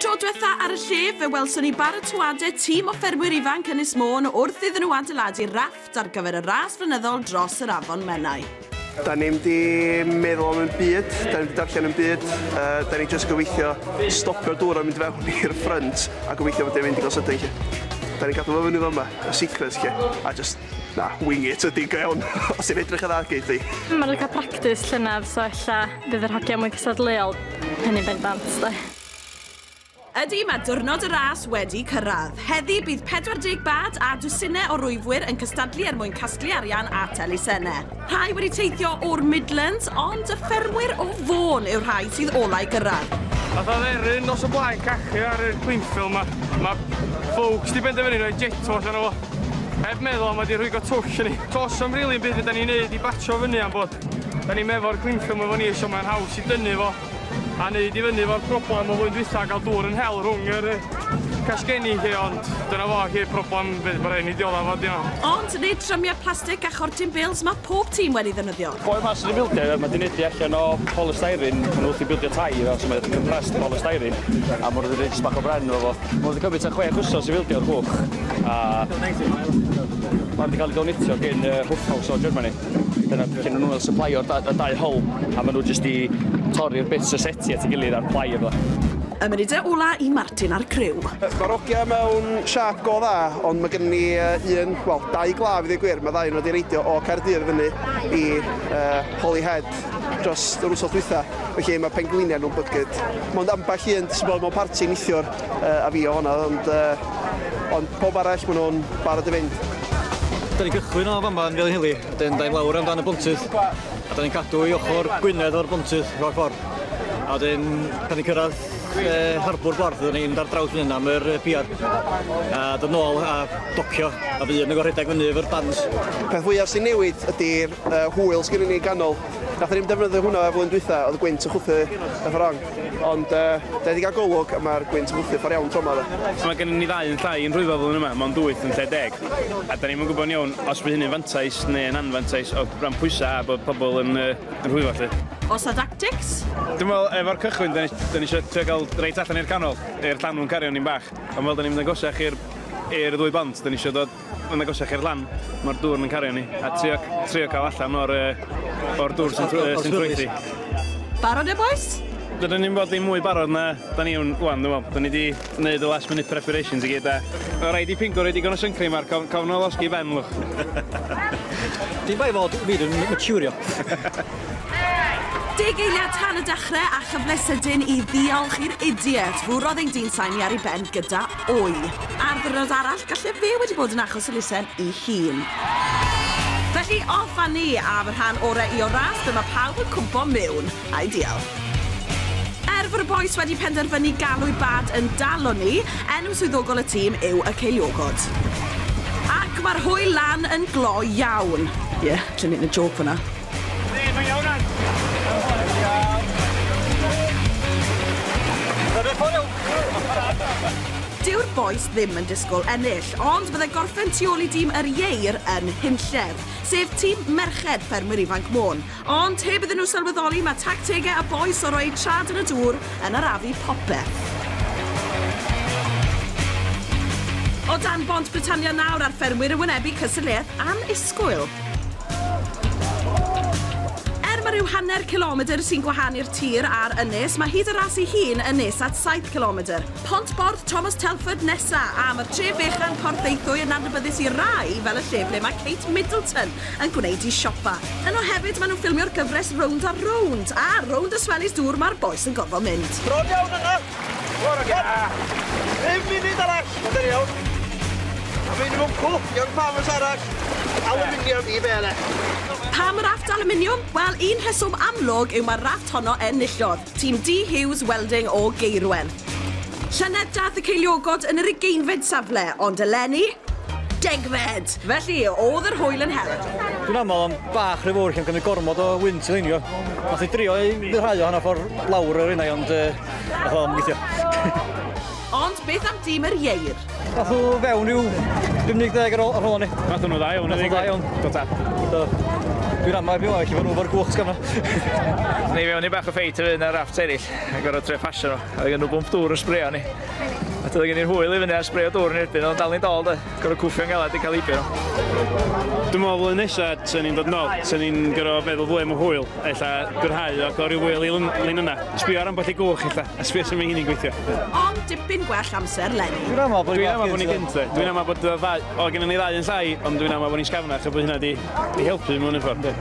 Tro diwetha ar y lle, fe welson ni barotoadau tîm o ffermwyr ifanc Ynys Môn wrth iddyn nhw adeiladu rafft ar gyfer y ras flynyddol dros yr Afon Menai. Da ni'm di meddwl am un byd, da ni'm di darllen un byd, uh, da ni just gobeithio stopio'r dŵr a mynd fewn i'r ffrynt a gobeithio bod e'n mynd i gael sydyn lle. Da ni'n gadw fo fyny fo yma, y secret lle, a just Na, wing it ydi, go iawn. Os ti'n edrych yn dda, geith di. Maen nhw'n cael practis llynedd, so ella bydd yr hogiau mwy cystadleuol, hynny'n bendant, de. Ydy, mae diwrnod y ras wedi cyrraedd. Heddi bydd 40 bad a dwsinau o rwyfwyr yn cystadlu er mwyn casglu arian at elusennau. Rhai wedi teithio o'r Midlands, ond y ffermwyr o Fôn yw'r rhai sydd olau gyrraedd. Fath o dderyn nos o blaen cachu ar yr Gwynffil ma. Ma folks di benderfynu rhoi jetto allan o fo. Heb meddwl ma di rhwygo twll yn ni. Dos am rili yn byd fydda ni'n neud i batsio fyny am bod da ni'n mefo'r Gwynffil ma fo ni so mae'n haws i dynnu fo. A neud i fyny fo'r problem o flwyddyn dwytha ga'l dŵr yn hel rhwng yr yy casgenni 'lly ond dyna fo 'lly problem by- ma' rhaid ni diodda fo 'di o. Ond nid trymiau plastic a chortyn bils mae pob tîm wedi ddefnyddio. Boi 'ma sy'n bildio mae 'di neud hi allan o polystyrene, ma' nhw wrthi'n bildio tai iddo so mae o 'di compressed polystyrene a ma' nhw 'di neud jyst bach o bren efo fo. Ma' nhw 'di cymryd tua chwech wsos i fildio'r cwch a ma' 'di ca'l ei donitio gin yy Hufhaus o Germany. Dyna lle nhw fel syplaio'r da, y dau hol, a maen nhw jyst i torri'r bits o seti at ei gilydd a'r plai a fydda. Y munudau ola i Martin a'r criw. Mae'r ogiau mewn siâp go dda, ond mae gennym ni un, wel, dau glaf i ddweud gwir, mae ddau nhw wedi reidio o Caerdydd fyny i Holyhead dros yr wythnos dwytha, felly mae pengliniau nhw'n bygyd. Mond ambell un sydd wedi bod mewn parti neithiwr. a fi o hwnna ond yy ond pawb arall ma' nhw'n barod i fynd. Da ni'n cychwyn o fama yn Felinheli, wedyn da ni'n lawr amdan y bontydd a da ni'n cadw i ochr Gwynedd o'r bontydd rhag ffordd. A wedyn pan ni'n cyrraedd e, harbwr Borth da ni'n mynd ar draws fan hyn am yr piad a dod nôl a docio a fi yn y gorhedeg fyny efo'r bands. Peth fwyaf sy'n newid ydy'r uh, hwyl sgynny ni ganol. Nath ni'n defnyddio hwnna flwyddyn dwytha, oedd y gwynt yn chwthu y fforong. Ond yy, da ni di gael golwg a mae'r gwynt yn gwthio ffordd iawn tro yma de. So mae gennym ni ddau yn llai yn rhwyfo flwyddyn yma, mond wyth yn lle deg. A da ni'm yn gwybod yn iawn os bydd hynny'n fantais neu yn anfantais o ran pwysau a bod pobl yn yy yn rhwyfo 'lly. Oes 'na dactics? Dwi'n meddwl efo'r cychwyn da ni da ni isio trio cael reit allan i'r canol, i'r llanw'n cario ni'n bach. Ond fel da ni'n mynd yn goshach i'r i'r ddwy bont da ni isio dod Mae'n agosach i'r lan, mae'r dŵr yn cario ni, a trio, trio cael allan o'r, uh, or dŵr sy'n trwythi. Barod e, boys? Dydyn ni'n bod i mwy barod na da ni wan, dwi'n meddwl. Da ni wedi gwneud y last minute preparations i gyd, a o rhaid i Pingo rhaid i gan o syncream ar, cof, cofn o losgi ben, lwch. Dwi'n bai fod wir yn maturio. Deg eiliad tan y dechrau a chyfle sydyn i ddiolch i'r idiot. Fwrodd ein dyn sain ni ar ei ben gyda Oi. Ar ddiwrnod arall, galle fe wedi bod yn achos elusen i hun. Felly, off a ni a fy rhan orau i o'r ras, dyma pawb yn cwmpo miwn. Ideal. Er fod y bois wedi penderfynu galw'u bad yn Dalo ni, enw swyddogol y tîm yw y Ceiliogod. Ac mae'r hwyl lan yn gloi iawn. Ie, yeah, dwi'n neud y jôc fan'na. Dyw'r bois ddim yn disgwyl ennill, ond byddai gorffen tu ôl i dîm yr Ieir yn hunllef, sef tîm merched Ffermwyr Ifanc Môn. Ond heb iddyn nhw sylweddoli, mae tactegau y bois o roi eu traed yn y dŵr yn arafu popeth. O dan bont Britannia nawr a'r ffermwyr yn wynebu cystadleuaeth annisgwyl. Er mae rhyw hanner cilomedr sy'n gwahanu'r tir a'r ynys, mae hyd y ras ei hun yn nes at saith cilomedr. Pont Borth Thomas Telford nesa', a mae'r tref fechan Porthaethwy yn adnabyddus i rai fel y lle ble mae Kate Middleton yn gwneud i siopa. Yno hefyd maen nhw'n ffilmio'r gyfres Rownd a Rownd, a rownd y swellies dŵr mae'r bois yn gorfod mynd. Bron iawn yna! Bore da! Un munud arall! Mae'n deri iawn. A mae'n mynd cw, iawn pam yn sarach. Aluminium i bele. Pam y rafft aluminium? Wel, un rheswm amlwg yw mae'r rafft honno en nillodd. Tîm D Hughes Welding o Gaerwen. Llynedd dath y ceiliogod yn yr ugeinfed safle, ond eleni, degfed! Felly, o'dd yr hwyl yn hel. Dwi'n aml yn bach rhy fowr 'lly yn cymryd gormod o wynt i leinio. Nath i drio i ryddhau o hanner ffor lawr yr innau ond yy nath o'm gweithio. Ond beth am dîm yr ieir? Nath nhw fewn ryw 50 deg ar ôl ar ôl ni. Nath nhw dda iawn. Nath nhw dda iawn. Do tad. Do. Dwi'n ama erbyn ŵan felly ma' nhw fo'r gwch sgan nhw. Nath ni fewn i bach o ffeit efo un o'r raffts eryll a gor'o' trio pasio nhw. O'dd gen nhw bwmp dŵr yn sbreio arni. A doedd gen i'r hwyl i fyny a sbreio dŵr yn erbyn o ond dal ni'n dol doedd? Gorfod cwffio'n galed i cael heibio nhw. Dwi'n meddwl flwyddyn nesa, sy'n ni'n dod nôl, sy'n ni'n gorfod meddwl fwy am y hwyl, eitha gwrhau ac o ryw wyl i lun yna. Sbio ar ambell i gwch eitha, a sbio sy'n mynd hynny'n gweithio. Ond dipyn gwell amser leni. Dwi'n aml bod ni'n gynt dde. Dwi'n aml bod y ddau, o gen i ni ddau yn llai, ond dwi'n aml bod ni'n sgafnach a bod hynna di, di helpu mewn un ffordd yndi?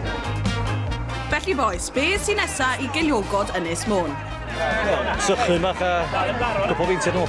Felly bois, be sy'n nesa i geiliogod Ynys Môn? Wel, sychu mach a cwpl o feintiau nôl.